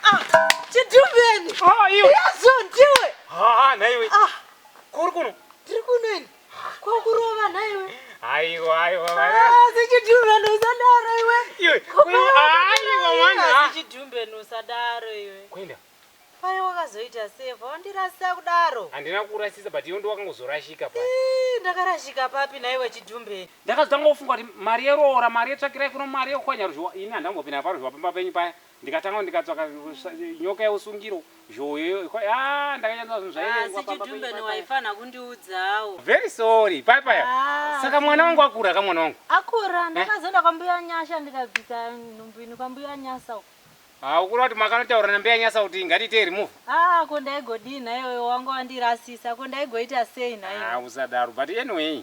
Ah, chitumbeni. Ah, iwe. Yazo ndiwe. Ah, ah naiwe. Ah. Kuri kuno. Tiri kuno ini. Kwa kurova naiwe. Aiwa, aiwa. Ah, zichitumbeni usadaro iwe. Iwe. Aiwa mwana. Ah, zichitumbeni usadaro iwe. Kwenda. Pai wakazoita save wandirasisa kudaro. Handina kurasisa but iwe ndiwakangozorashika pai. Eh, ndakarashika papi naiwe chitumbeni. Ndakazotanga kufunga kuti mari yeroora, mari yetsvakirai kuno mari yokwanya ruzhowa. Ini handambopinda paruzhowa pamba penyu paya. Ndikatanga ndikatsvaka nyoka yeusungiro, zhoyo ikwa yaa ndakanyatsa zvinhu zvairengwa Asi pamba Chidumbe penyu paya. newaifanha kundiudzawo. Very sorry paya paya. Ah, Saka mwana wangu akura ka mwana wangu. Akura ndakazoenda kwambuya Nyasha ndikabvisa nhumbu ino kwambuya Nyasa uko. Ah ukura kuti makanotaura nambuya Nyasa kuti ngatiitei remove. Ah ko ndaigodii nhaiwe wangu wandirasisa ko ndaigoita sei Ah nhaiwe. usadaro but anyway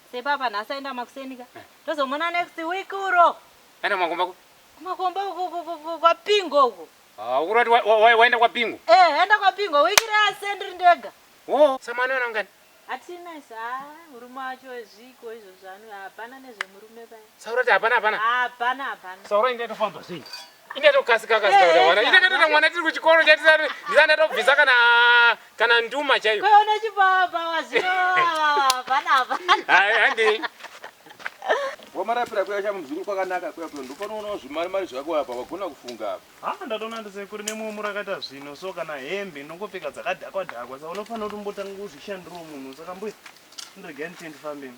Sepapa nhasi aenda makuseni ka. Tozomona next week uro. Aenda makomba ku. Makomba uku kwa Pingo uku. Ah, ukurati waenda kwa Pingo? Eh, aenda kwa Pingo. Week re ase ndiri ndega. Oh, samani ana ngani? Atina isa, ah, murume wacho ezviko izvo zvanu hapana nezvemurume pa. Saurati hapana hapana. Hapana hapana. Saurati ndatofanzwa sei? inatokasika kasika kuti mwana ita katoita mwana tiri kuchikoro chatisari ndisandatobvisa kana kana nduma chaiyo kwaona chibaba wazio vanava handi wamarapira kuya chamuzukuru kwakanaka kuya kuya ndopanoona zvimari mari zvako apa wagona kufunga apa ha ndatoona ndisekuri nemumwe murakaita zvino so kana hembe ndongopfeka dzakadhakwa dhakwa sa unofanira kuti umbotanga kuzvishandirawo munhu saka mbuya ndiregai nditendifambeni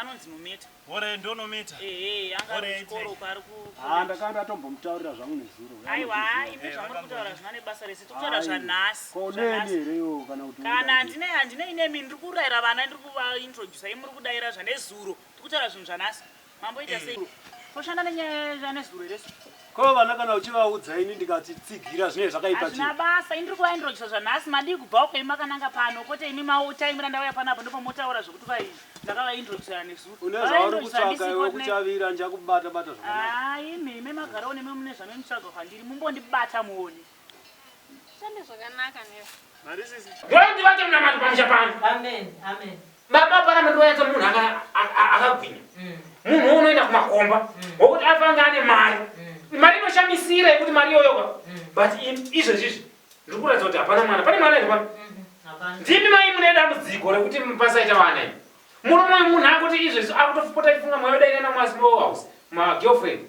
Anonzi Nometa. Ore ndo Nometa. Ehe, anga ari kuchikoro uko ari ku. Ah, ndakanga ndatombomutaurira zvangu nezuro. Aiwa, ah, imi eh, zvamuri kutaura zvina nebasa rese. Tokutaura zvanhasi. Ko neni here yo kana kuti. Kana handine handine ine mini ndiri kuraira vana ndiri kuva introduce imuri kudaira zvanezuro. Tikutaura zvinhu zvanhasi. Mambo ita eh. sei? Toshanda nenyaya zvanezuro here? Ko vana kana uchivaudza ini ndikati tsigira zvinenge zvakaipa chii? Hazvina basa, ini ndiri kuvaintroducer zvanhasi, madii kubva uko imi makananga pano, kwete imi mautaimira ndauya pano apo ndipo motaura zvekuti vai ndakavaintroducera nezuro. Une zvauri kutsvaga iwe kuchavira njakubata bata zvakanaka. Haa imi, imi magarawo nemi mune zvamunotsvaga kwandiri, mumbondibata muone. Shande zvakanaka nesu. Mari sisi. Glory be vake mna mari pamusha pano. Amen. Amen. Baba para mendo yake munhu aka akagwinya. Mm. Munhu unoenda kumakomba. Mm. Wokuti afanga ane mari. Mm. Mari inoshamisira yekuti mari yoyo ka. Mm. But izvo izvi ndiri kuratidza kuti hapana mwana. Pane mwana ende pano. Mm-hmm. Hapana. Ndimi mai mune dambudziko rekuti pasaita vana imi. Murume munhu akuti izvo izvo akutofupota ifunga mwayo dai nana mwasi house. Ma girlfriend.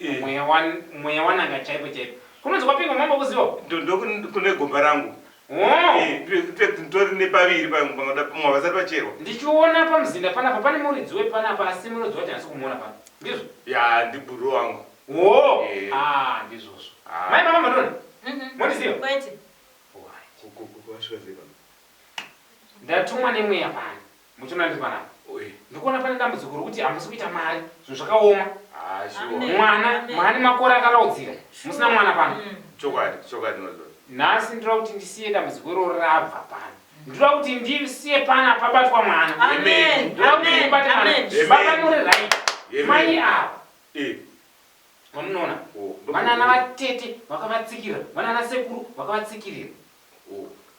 Umm mweya wan mweya wan'anga chaipo chaipo. Kunonzi kwapingwa mambo kuziwa uku. Ndo ndo kune gomba rangu. Hoo. Eeh ndri fact nditori nepaviri pa panoda pamwe havasati vacherwa. Ndichiona pamuzinda panapa pane muridzi wepanapa asi munoziva kuti handisi kumuona pano. Ndizvo? Yaa ndi bhuruu wangu. Hoo Eeh. aah ndizvozvo. Haa. Mai mama mandiona? Umm Mondiziva? kwete. Hoo hayi. Ko ko ko wasvika sei pano? Ndatumwa nemweya pano. Muchiona ndiri panapa ndikuona pane dambudziko rokuti hamusi kuita mari zvinhu zvakaoma mwana mhani makore akaraudzira musina mwana pano nhasi ndira kuti ndisiye dambudziko iroro rabva pano ndira kuti ndisiye pana pabatwa mwana ndira kuti ndibate mwana baba muri right mai ava mamunoona vanana vatete vakavatsikirira vanana sekuru vakavatsikirira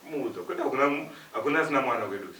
muudza kwete hakuna asina mwana kwedusa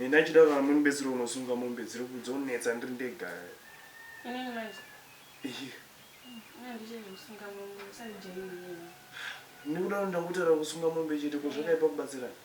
ndaichida kuti amweni betsero unosunga mombe dziri kudzonetsa ndiri ndega ndikuda kuti ndakutara kusunga mombe chete ko zvakaipa kubatsirana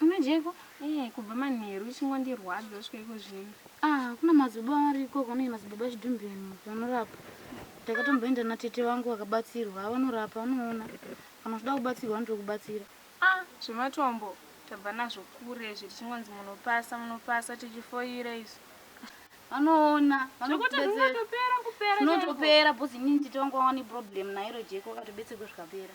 Unodyeiko? Eh, kubva manheru uchingondirwadza kusvika iko zvino. Ah, kuna madzibaba vari ikoko, anonzi madzibaba Chidhumbeni vanorapa. Ndakatomboenda natete vangu vakabatsirwa, haa vanorapa, unoona. Kana uchida kubatsirwa vanotokubatsira. Ah, zvematombo tabva nazvo kure izvi tichingonzi munopasa, munopasa tichifoira izvi. Vanoona, Zvekuti vanokubetsera. zvinotopera kupera chaiko. Zvinotopera, bhozi inini tete vangu vava neproblem nairo jeko, vakatobetserwa zvikapera.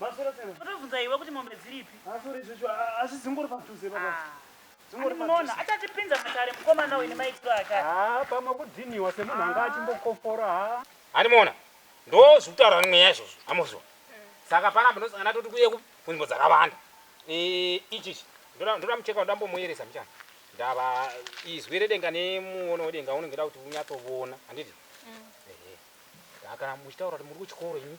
Maswera sei mama? Totobvunza iwe kuti mombe dziripi? Ah sorry zveshu asi dzingori padhuze baba. Ah. Dzingori padhuze. Munoona achatipinza matare mukomana uyu nemaitiro ake. Ah pamwe kudhiniwa semunhu anga achimbokofora ha. Hanimoona. Ndozvi kutaura nemweya izvozvo. Amozwa. Saka pana panosangana toti kuye kunzvimbo dzakawanda. Eh ichi ichi. Ndoda ndoda mucheka ndambo muyeresa mchana. Ndava izwi redenga nemuono wedenga unenge da kuti unyatso vona. Handiti? Mm. Eh. Kana muchitaura kuti muri kuchikoro ini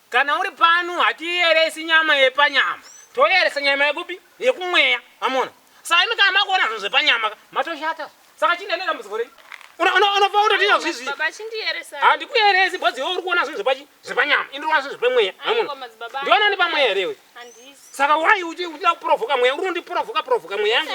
Kana uri pano hatiyeresi nyama yepanyama toyeresa nyama yekupi yekumweya mamona saka imi kana makuona zvinhu zvepanyama ka matoshata saka chii ndaine dambudziko rei unobva utotinya zvizvi handikuyeresi bhozi iwe uri kuona zvinhu zvepachi zvepanyama ini ndikuona zvinhu zvepemweya mamona ndiona ndi pamweya here iwe saka wai uchida kuprovoka mweya uri undiprovoka provoka mweya yangu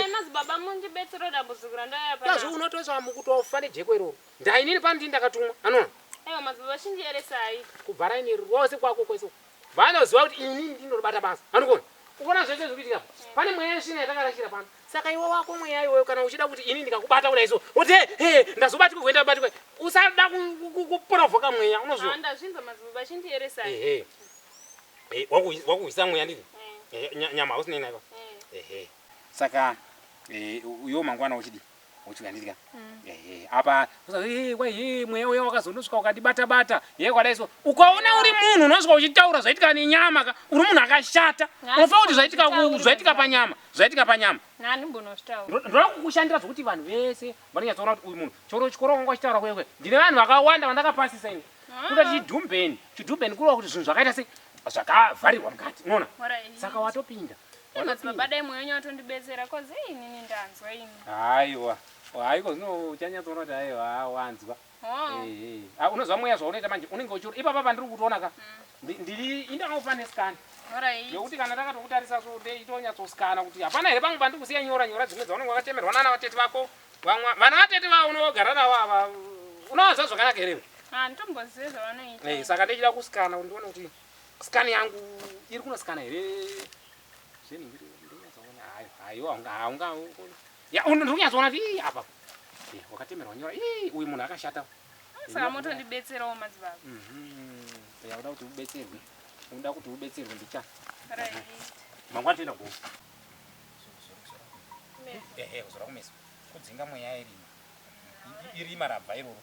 yazvi unotoisa mukutofa nejeko iroro Ndai nini pano ndini ndakatumwa anona. Ewa mabhebha chindiyeresai. Kubva raini rose kwako kwese uko. Vanoziva kuti ini ndinobata basa. Anokona. Ukona zvese zviri kuitika apa. Mm. Pane mweya yesvina yatakarashira pano. Saka iwe wako mweya iwoyo kana uchida kuti ini ndikakubata kudai so. Wote he he ndazobatika kuenda batika. Usada kuprovoka mweya unozviona. Ndazvinzwa mabhebha chindiyeresai. Ehe. Eh. Eh, wakuhwisa mweya ndini eh. eh, nyama hausinei naiva eh. ehe saka uyo mangwana uchidii uchidya ndidya mm. ehe apa usazi wai hii mweya uya wakazonosvika ukandibata bata ye kwadai so ukaona uri munhu unosvika uchitaura zvaitika nenyama ka uri munhu akashata unofa kuti zvaitika zvaitika panyama zvaitika panyama nani mbonoshtaura ndoda kukushandira zvokuti vanhu vese vanonyatsoona kuti uyu munhu choro chikoro wanga uchitaura kwewe ndine vanhu vakawanda vandakapasisa ini ah. kuda chidhumbeni chidhumbeni kurova kuti zvinhu zvakaita sei zvakavharirwa mukati unoona saka watopinda madzibaba dai mweya wenyu watondibetsera cause hey, inini ndanzwa ini haiwa haiko zvino uchanyatsoona kuti haiwa haa, wanzwa oh. Eh, eh. Ah, unonzwa mweya zvaunoita manje unenge uchiona ipapa pandiri kutoona ka ndi- ndiri indangofane scan Alright. yekuti kana takatokutarisa so nde itonyatsosikana kuti hapana here pamwe pandiri kusiya nyora nyora dzimwe dzaunenge wakatemerwa nana vatete vako vamwa vana vatete vavo unogara navo ava unowanza zvakanaka here iwe? Ah, nditombozive zvavanoita Eh, saka ndichida kusikana kuti ndione kuti Scan yangu iri kuno scan here? Zvinhu ndiri ndinyazoona hayo hayo haunga haunga ya uno ndiri kunyazoona kuti ii apa eh wakatemerwa nyora ii uyu munhu akashata saka moto ndibetserawo madzibaba mhm ya uda kuti ubetserwe unoda kuti ubetserwe ndicha right mangwana toenda gogo ehe uzora kumeso kudzinga mweya irima irima rabva iroro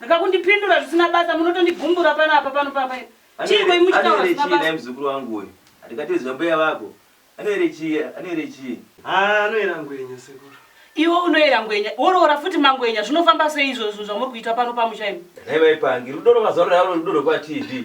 Rega kundipindura zvisina basa munotondigumbura pano apa pano papa iri. Chii koi muchitaura zvisina basa? Anoere muzukuru wangu uyu. Atikatizwa mbuya vako. Anoere chii? Anoere chii? Haa anoera ngwenya sekuru. Iwe unoera ngwenya. Woroora futi mangwenya. Zvinofamba sei izvozvo zvamuri kuita pano pamusha imi? Nhai mai Pangi. Rudo rwemazuva ano rudo rwekwaTV.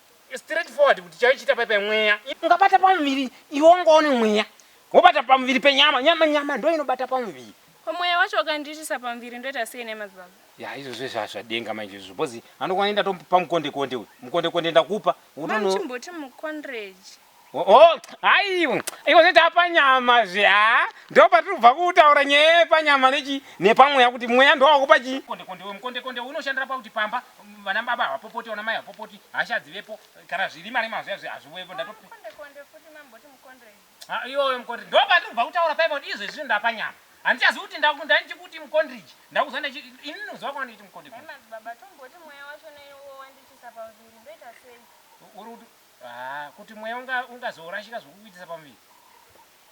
Straight forward kuti chaichita pai pai mweya. Ungabata pamuviri iwe wanga une mweya wobata pamuviri penyama nyama nyama ndo inobata pamuviri. Ko mweya wacho wakandiitisa pamuviri ndoita sei nhai madzibaba. Yaa izvozvo izvo hazvadenga manje izvozvo bcoz anokwana inda tomupa mukonde konde uyu mukonde konde ndakupa. Mom chimboti mukonreji. Oh, hayi iwe zve tapanyama zve ha ndo patiri kubva kutaura nyaya yepanyama nechi nepamweya kuti mweya ndowakupa chi konde konde we mukonde konde unoshandira pakuti pamba mm, vana baba havapopoti vana mai havapopoti hasha dzivepo kana zviri mari mazviya zve hazviwepo ndatopi Mukonde konde futi mamboti mukondei. Ah, iyoyo mukondri ndo patiri kubva kutaura paipa kuti izvo izvizvi ndapanyama handichazivi kuti ndaku- ndanichikuti mukondriji ndakuziva ndachi ini ndinoziva kwanga ndichiti mukondri Hai madzibaba tomboti mweya wacho neiwo wandiitisa paviri ndoita sei? uri kuti Haa kuti mweya unga ungazorashika zvokukuitisa pamuviri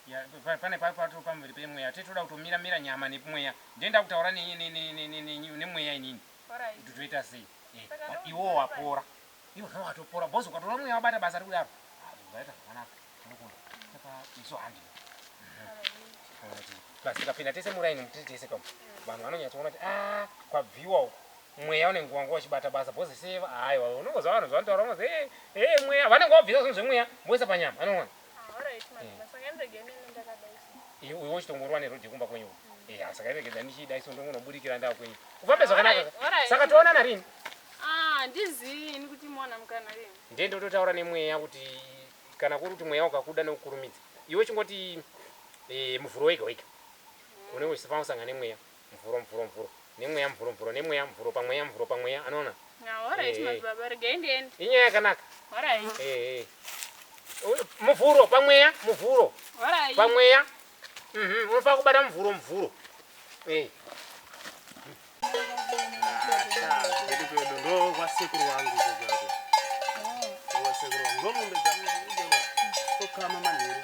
yeah, pane pato pamuviri pemweya tete toda kutomira mira nyama nepmweya ndiye ndakutaura nemweya inini kuti toita sei eh, iwo wapora iwo no watopora bos ukatoona mweya wabata basa rikudaro aita zvakanaka tinokunda saka isu handi basi kapinda tese muraini mutiri tese kamo vanhu vanonyatsoona kuti a ah, kwabviwa uko Mweya unenge wanga wachibata basa because see aiwa unongonzwa vanhu zvavanotaura unongonzi hey, hey mweya vanenge vabvisa zvinhu zvemweya voisa panyama anonona iwe uchitongorwa neroad yekumba kwenyu eh asi kairegedza ndichida iso ndongonoburikira ndaa kwenyu ufambe zvakanaka saka toonana rini ah ndizivi ini kuti mwana mukana rini ndiye ndototaura nemweya kuti kana kuri kuti mweya wakakuda nokukurumidza iwe chingoti eh muvhuro wega wega unenge uchisafana kusangana nemweya Mvuro mvuro mvuro nemweya mvuro mvuro nemweya mvuro pamweya mvuro pamweya anoona inyaya yakanaka muvhuro pamweya muvhuro pamweya mhm, unofanira kubata muvhuro muvhuro ndovasekuru vangu ndovasekuru vangu ndomombe dzangu ndokama manheru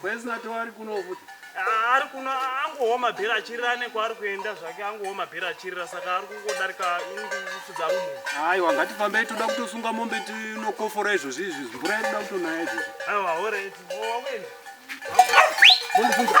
Kwezina to ari kuno futi. Ah, ari kuno angooma bhera achirira nekwaari kuenda zvake angooma bhera achirira saka ari kungodarika inifudza rumu. Hayi wangati fambei toda kutosunga mombe tinokofora izvozvi izvi mvura inoda kutonaya izvozvi. Aiwa alright. Wakuenda. Mundifunga.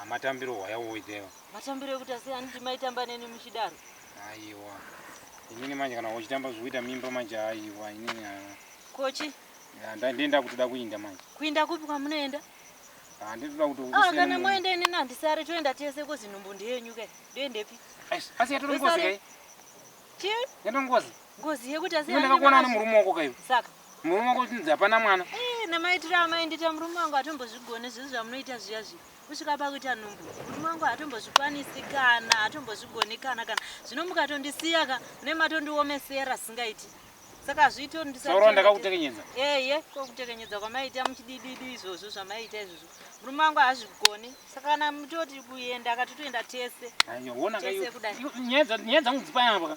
Ah, matambiro hwaya woitewa. Matambiro ekuti asi handiti maitamba neni muchidaro. Aiwa. Inini manje kana uchitamba zvoita mimba manje aiwa inini haa. Kochi? Ya, nda- ndiye ndakutoda kuinda manje. Kuinda kupi kwamunoenda? Ah, ndinotoda kuti Ah, ukusiyane kana munhu. moenda inini handisare toenda tese kozi nhumbu ndeyenyu kai. Ndoendepi? Eish, Asi yatori ngozi Usare. kai? Chii? Yatori ngozi. Ngozi yekuti asi Iwe ndakakuona haina nemurume wako kaiwe. Saka Murume wako uchinzi hapana mwana. Eh, namaitiro amai ndiita murume wangu hatombozvigoni zvinhu zvamunoita zviya zviya kusvika pakuita nhumbu murume wangu hatombozvikwanisi kana hatombozvigoni kana kana zvino mukatondisiya ka mune matondiomesera singaiti saka hazviiti Soro ndisati ndakakutekenyedza. eye ko kutekenyedza kwamaiita muchidididu izvozvo zvamaiita izvozvo murume wangu haazvigoni saka kana mutoti kuenda akatotoenda tese Ayo wona Tese kaiwe. kudai. Iwe, Nyaya dza- nyaya dzangu dzipaya apa. ka.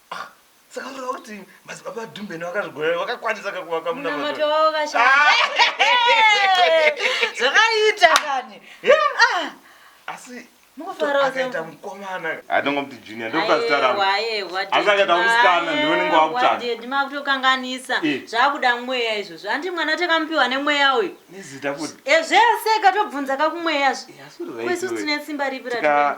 Ah, saka kureva kuti madzibaba adumbeni vakazvigoya vakakwanisa kakuvaka munamato wavo kashaya zvakaita kani asi akaita mukomana atongomuti junior ndokazitaraasakaita musikana ndionenge wakutsvaakutokanganisa zvakuda mweya izvozvo andi mwana takamupiwa nemweya uyu nezita kuti ezvese katobvunza kakumweya zvi kwesu tine simba ripi ra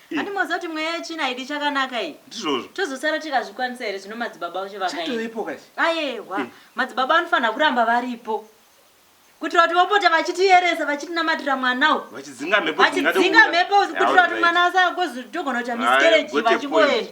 Handi moziva kuti mweya yetsvina haidi chakanaka iyi. Ndizvozvo. Tozosara tikazvikwanisa here zvino madzibaba vacho vakaenda. Chatovepo kasi. Ayehwa. Madzibaba vanofanira kuramba varipo. Kuitira kuti vapote vachitiyeresa vachitinamatira mwana uyu. Vachidzinga mhepo dzingade kubuda. Vachidzinga mhepo kuitira kuti mwana asagozotogona kuita miscarriage vachingoenda.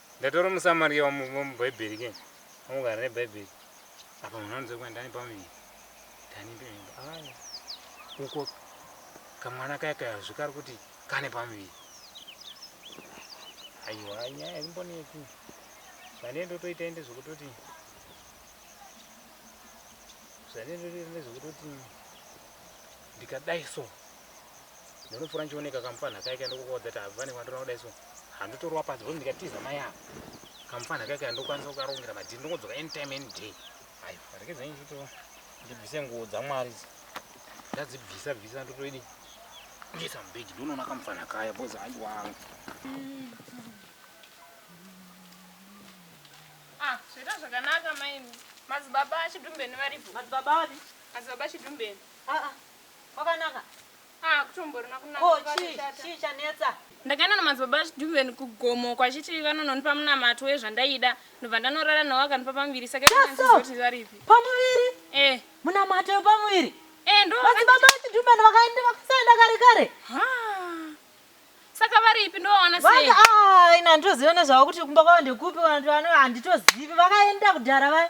Ndatori muSamaria wamubhaibheri ke wamugara nebhaibheri apa munhu anonzwa kuti ndani pamuviri ndani pemimba aya uko kamwana kaya kayazvi kari kuti kane pamuviri aiwa nyaya imboneki zvanee ndotoita ende zvekutoti zvanee ndotoita ende zvekutoti ndikadai so ndinopfuura ndichioneka kamufana kaika ndokukodza ta vane kwandona kudai so handotorwa pasi bhozi ndikatiza mai ava kamufana kaika handokwanisa kukarongera madhiri ndongodzoka anytime any day ayo rekedza nchito ndibvise nguo dzamwari ndadzibvisa bvisa ndotoidi ndiisa mubhegi ndonoona kamufana kaya bhozi aiwaa ah, zvoita zvakanaka maini madzibaba chidumbeni varipo madzibaba ari madzibaba chidumbeni ah, ah. Kwakanaka. Ah kutomborima kunaka. Ko chii chii chanetsa. Ndakaenda namadzibaba Duven kugomo kwachiti vanononipa munamato wezvandaida ndobva ndanorara nawo akandipa pamuviri saka ikanzizoti varipi. Pamuviri? Eh. Munamato wepamuviri? Eh ndo. Madzibaba Duven vakaenda vakasaenda kare kare. Haa. Saka varipi ndovaona sei? Vanga ah ina ndozivana zvavo kuti kumba kwavo ndekupi kana kuti vano handitozivi vakaenda kudhara vaya.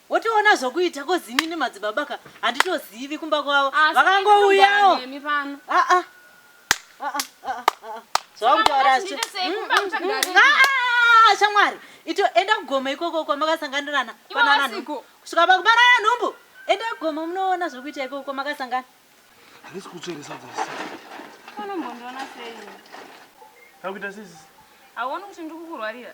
Wotoona zvokuita ko zini nemadzibaba ka handitozivi kumba kwavo vakangouyawo shamwari ito enda kugoma ikoko kwamakasanganirana panana nhumbu kusvika pakubarana nhumbu enda kugoma munoona zvokuita ikoko kwamakasangana handisi kutsveresa dzese unombondiona sei akuita sisi hauoni kuti ndikukurwarira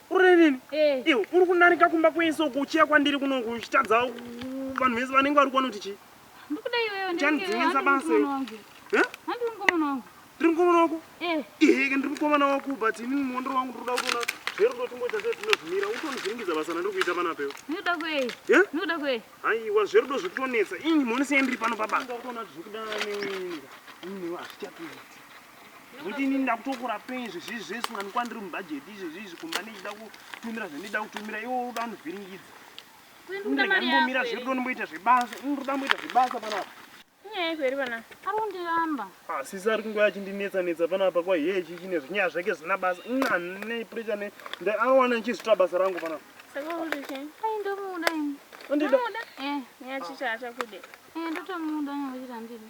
urinini eh. iwe uri kundarika kumba kwese uko uchiya kwandiri kuno kuchitadza vanhu vese vanenge vari kuona kuti chii chandidzingisa basa eh? ndiri mukomana wako eh. iheke ndiri mukomana wako but ini muondero wangu ndiri kuda kuona zverudo timboita sei tinozvimira utonivhiringidza basa randiri kuita pana pewe aiwa zverudo zviri kutonetsa ini mhoni sei ndiri pano pabasa Kuti ini ndakutokura pei zvezvizvi zvese unganikwa ndiri mubhajeti izvezvizvi kumba ndichida kutumira zvandida kutumira iwo unoda kundivhiringidza ndambomira zvedu ndomboita zvebasa ndoda mboita zvebasa panapa nyaya yako iri pana ari kundiramba ah, sisi ari kungoya achindinetsa netsa panapa kwa hiye ichi chine zvinyaya zvake zvina basa nane pressure ne nda awana ndichizvita basa rangu panapa saka uri che ai ndomuda ini ndomuda eh nyaya chicha achakude eh ndotomuda nyaya chicha ndini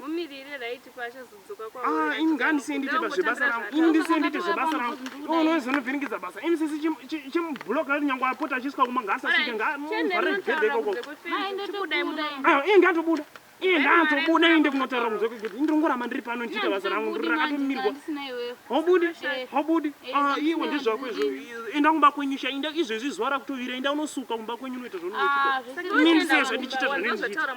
Mumirire right pa achazodzoka kwa Ah, imi ngandisiye ndiite pa zvebasa rangu. Imi ndisiye ndiite zvebasa rangu. Iwe unozi unovhiringidza basa. Imi sisi chim- chi- chimublock rati nyangwe apota achisvika kumba ngaasasvike ngaamuvhare gedhe ikoko. Ah, iye ngaatobuda. Iye ngaatobuda iende kunotaura kunze kwegedhe. Ini ndongoramba ndiri pano ndichiita basa rangu ndiri rakatomirwa. Haubudi, haubudi. Ah, iwe ndezvako izvo. Enda kumba kwenyu sha, enda izvezvi zuva rakutovira, enda unosuka kumba kwenyu unoita zvaunoita. Ini ndisezvo ndichiita zvandinenge ndichiita.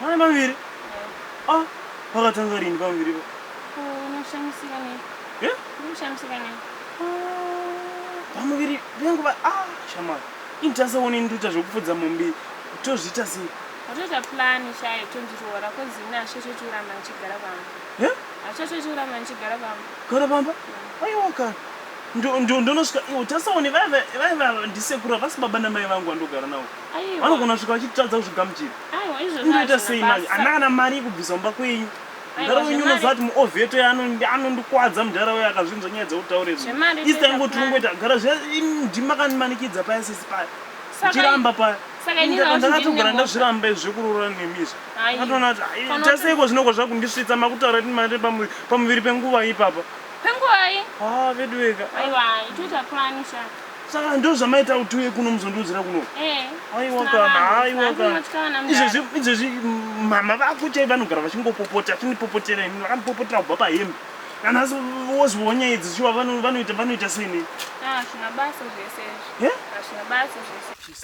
Mwana maviri? Ah, wakatanga rini pamuviri po? Unoshamisika nei? Eh? Unoshamisika nei? Pamuviri vengu va ah, shamwari. Ini tasaone nduta zvekupfudza mombe tozviita sei? Watoita plan shaye tondiroora cause ini hazvicha chochiurama ndichigara pamba. Eh? Hazvicha chochiurama ndichigara pamba. Gara pamba? Mm. Aiwa ka. Ndonosvika iwo tasaone vaiva vaiva ndisekuru avasi baba namai vangu vandogara navo. Aiwa. Vanogona kusvika vachitadza kuzvigamuchira. Aiwa izvo zvazvo. Ndoita sei manje? Ana kana mari yekubvisa mumba kwenyu. Mudhara wenyu unoziva kuti muovheto anondikwadza mudhara uyo akazvinzwa nyaya dzautaure zi. Isi taingoti ungoita gara zve ndima kanimanikidza paya sisi paya. Chiramba paya. saka ini ndaka- ndakatogara ndazviramba izvi zvekurora nemi izvi Ai. ndakatoona kuti "Ai, Kana taseiko kuti- zvinogwa zvakundisvitsa makutaura kuti mari pamu- pamuviri penguva ipapa penguvai ha veduweka aiwa itoita plan sha saka ndo zvamaita kuti uye kuno muzondiudzira kuno eh aiwa sina kana vanhu, aiwa sina kana kunotya kana mdara. izvezvi izvezvi mm, mama vako chai vanogara vachingopopota vachindipopotera ini vakandipopotera kubva pahembe kana asi wozviwo nyaya idzi shuwa vano- vanoita vanoita seni Ah, hazvina basa zvese izvi Eh? hazvina basa zvese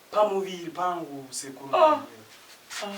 Pamuviri pangu sekuru. Ah. Ah.